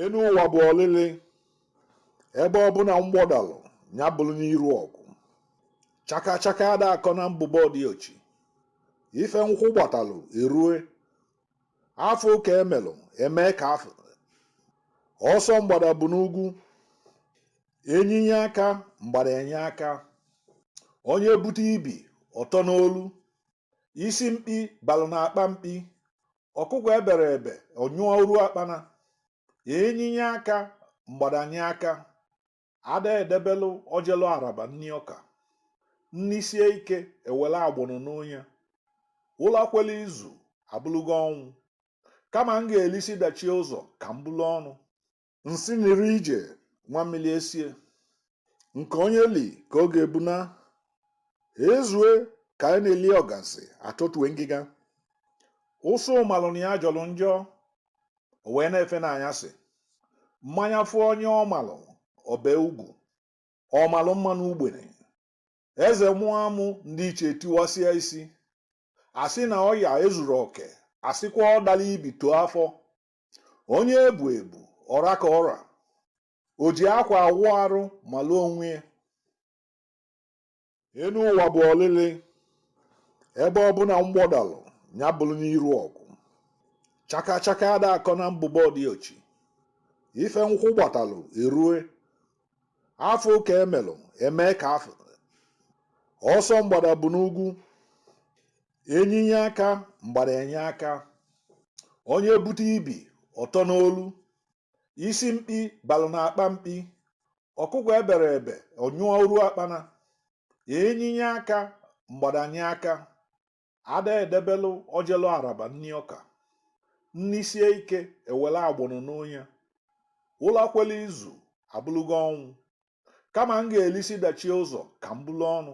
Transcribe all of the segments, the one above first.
Enu ụwa bụ olili, ebe ọbụna mgbọ dalụ nya bụlụ n'iru ọgụ. Chaka chaka ada akọ na mbụbọ di ochi. Ife nkwụ gbatalụ erue. A fụ ka e melụ e mee ka a fụ. Ọsọ mgbada bụ n'ugwu. Enyi nye aka, mgbada enye aka. Onye bute ibi, ọ tọ n'olu. isi mkpi balụ na akpa mkpi ọkụkọ ebere ebe ọ nyụrụ akpana enyi nye aka mgbada enye aka ada edebelụ o jelu araba nni ọka nni sie ike e were agbọnọ noo nya ụla kwele izu abụlụgo ọnwụ kama m ga-elisi dachie ụzọ ka m bulu ọnụ Nsị niri ije nwa mmiri esie, nke onye li ka ọ ga-ebuna. Ezue ka anyị na-eli ọgazi atọtue ngịga. Ụsụ malụ na ya jọlụ njọ, o wee na-efe n'anyasị. Mmanya fụ onye ọ malụ, ọ bee ugwu. Ọ malụ mma n'ugbene. Eze mụọ amụ, ndị ichie etiwasịa isi. A sị na ọya ezuru oke, a sịkwa ọ dalụ ibi too afọ, onye ebu ebu ọ ra ka ọ ra o ji akwa awụ arụ malụ onwe ya enu ụwa bụ olili ebe ọbụna mgbọ dalụ nya bụlụ n'iru ọgụ chaka chaka ada akọ na mbụbọ di ochi ife nkwụ gbatalụ erue a fụ ka e melụ e mee ka a fụ ọsọ mgbada bụ n'ugwu enyi nye aka mgbada enye aka onye bute ibi ọ tọ n'olu isi mkpi balụ na akpa mkpi ọkụkọ ebere ebe ọ nyụrụ akpana enyi nye aka mgbada enye aka ada edebelụ o jelu araba nni ọka nni sie ike e were agbọnọ noo nya ụla kwele izu abụlụgo ọnwụ kama m ga-elisi dachie ụzọ ka m bulu ọnụ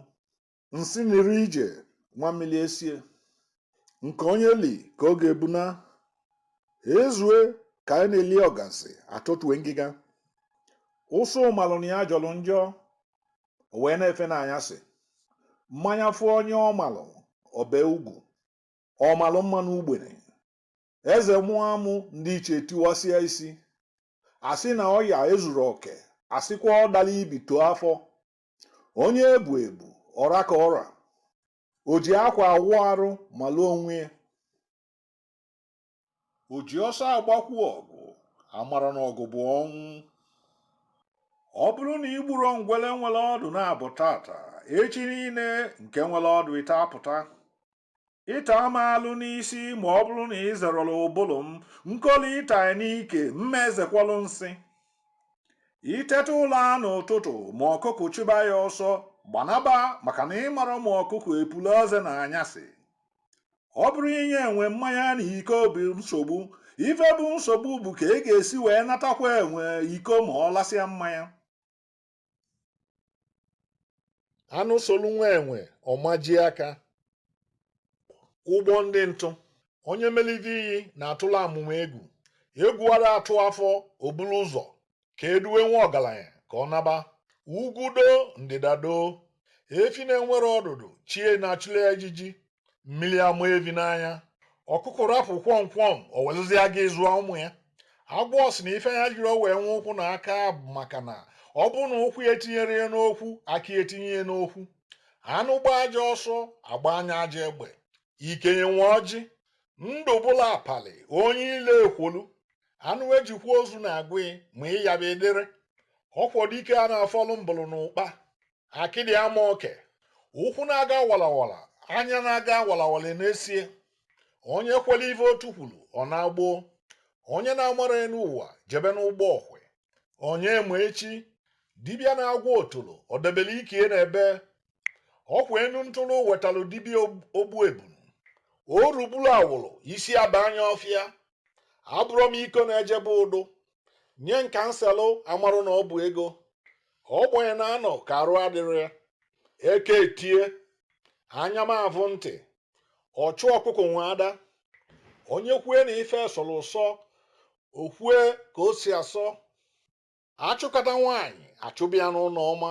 Nsị niri ije nwa mmiri esie, nke onye li ka ọ ga-ebuna. Ezue ka anyị na-eli ọgazi atọtue ngịga. Ụsụ malụ na ya jọlụ njọ, o wee na-efe n'anyasị. Mmanya fụ onye ọ malụ, ọ bee ugwu. Ọ malụ mma n'ugbene. Eze mụọ amụ ndị ichie etiwasịa isi. A sị na ọya ezuru oke, a sịkwa ọ dalụ ibi too afọ, onye ebu ebu ọ ra ka ọ ra o ji akwa awụ arụ malụ onwe ya o ji ọsọ agbakwu ọgụ amara na ọgụ bụ ọnwụ ọ bụrụ na i gburo ngwele nwele ọdụ naabọ taata echi niile nke nwele ọdụ ịtọ apụta ịta m alụ n'isi ma ọ bụrụ na ị zerọla ụbụlụ m nkoli ịta n'ike m ma ezekwalụ nsị i teta ụla n'ụtụtụ ma ọkụkụ chụba ya ọsọ gbanaba maka na ị marọ ma ọkụkụ epula eze na anyasị ọ bụrọ inye enwe mmanya na iko bụ nsogbu ife bụ nsogbu bụ ka ị ga-esi wee natakwa enwe iko ma ọ lasịa mmanya anụ solu nwa enwe ọ majie aka ụgbọ ndị ntụ onye melite iyi na-atụla amụma egwu egwu ara atụ afọ o bulu ụzọ ka e duwe nwa ọgalanya ka ọ naba ugwu doo ndịda doo efi na-enwerọ ọdụdụ chi e na-achụlụ ya ijiji mmiri ama evi n'anya ọkụkụ rapụ kwọm kwọm o welụzie gịnị zụọ ụmụ ya agwọ sị na ife ya jirọ wee nwee ụkwụ na aka bụ maka na ọ bụrụ na ụkwụ ya etinyerọ ya n'okwu aka ya etinye ya n'okwu anụ gbaa ajọ ọsọ a gbanye ya ajọ egbe ikenye nwe ọjị ndụ bụla apali onye ile ekwolu anụ ejikwa ozu na-agụ ya ma ịyaba edere ọkwọ dike a na-afọlụ mbụlụ na ụkpa akịdị ama oke ụkwụ na-aga walawala anya na-aga walawala na-esie onye kwere ife otu kwulu ọ naa gboo onye na-amarọ enu ụwa jebe n'ụgbọ okwe onye ma echi dibịa na-agwọ otolo o debelu ike n'ebee ọ kwa enu ntụrụ wetalụ dibịa ogbu ebunu o ruburu awụrụ isi aba anya ọfịa abụrọ m iko na-ejebe ụdụ nye m ka m selụ amarọ na ọ bụ ego ogbenye na-anọ ka arụ adịrọ ya eketie anya ma avụ ntị ọchụ ọkụkụ nwe ada onye kwue na ife sọrọ ụsọ o kwue ka o si asọ a chụkata nwaanyị a chụba ya n'ụnọ ọma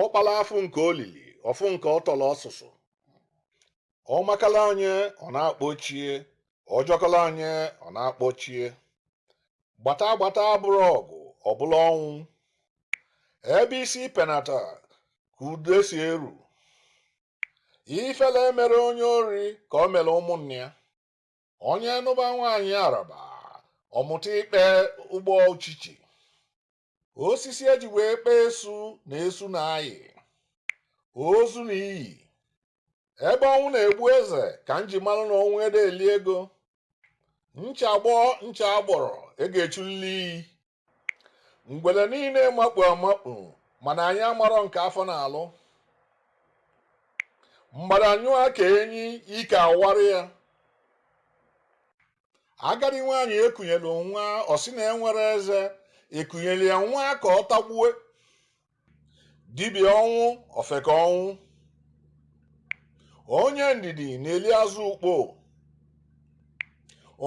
ọ kpala afụ nke o lili ọ fụ nke ọ tọrọ ọsụsụ ọ makala onye ọ na-akpọ chi e ọ jọkọla onye ọ na-akpọ chi e gbata gbata abụrọ ọgụ ọ bụlụ ọnwụ ebe isi penata ka ude si eru ifele emerọ onye ori ka o mere ụmụnne ya onye nụba nwaanyị araba ọ mụta ikpe ụgbọ uchichi osisi e ji wee kpee esu na esu na-ayi ozu na iyi ebe ọnwụ na-egbu eze ka m ji malụ na ọnwụ ede eli ego ncha gbọọ ncha agbọrọ a ga-echulili iyi ngwele niile makpu amakpu mana anyị amarọ nke afọ na-alụ mgbada nyụọ ka enyi ike awara ya agadi nwaanyị ekunyelu nwa ọ sị na enwerọ eze ekunyelu ya nwa ka ọ tagbue dibịa ọnwụ ofeke ọnwụ onye ndidi na-eli azụ ukpo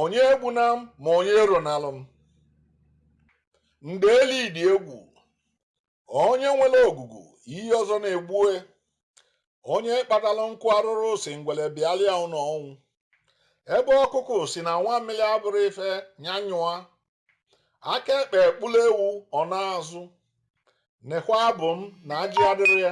onye egbuna m ma onye eronalụ m ndeli dị egwu onye nwere ogugu iyi ọzọ na-egbue onye kpatalụ nkụ arụrụ sị ngwele bịalịa ụlọ ọnwụ ebe ọkụkụ sị na nwa mmiri abụrọ ife nya nyụa aka ekpe kpụlụ ewu ọ naa azụ nekwa abụ m na ajị adịrọ ya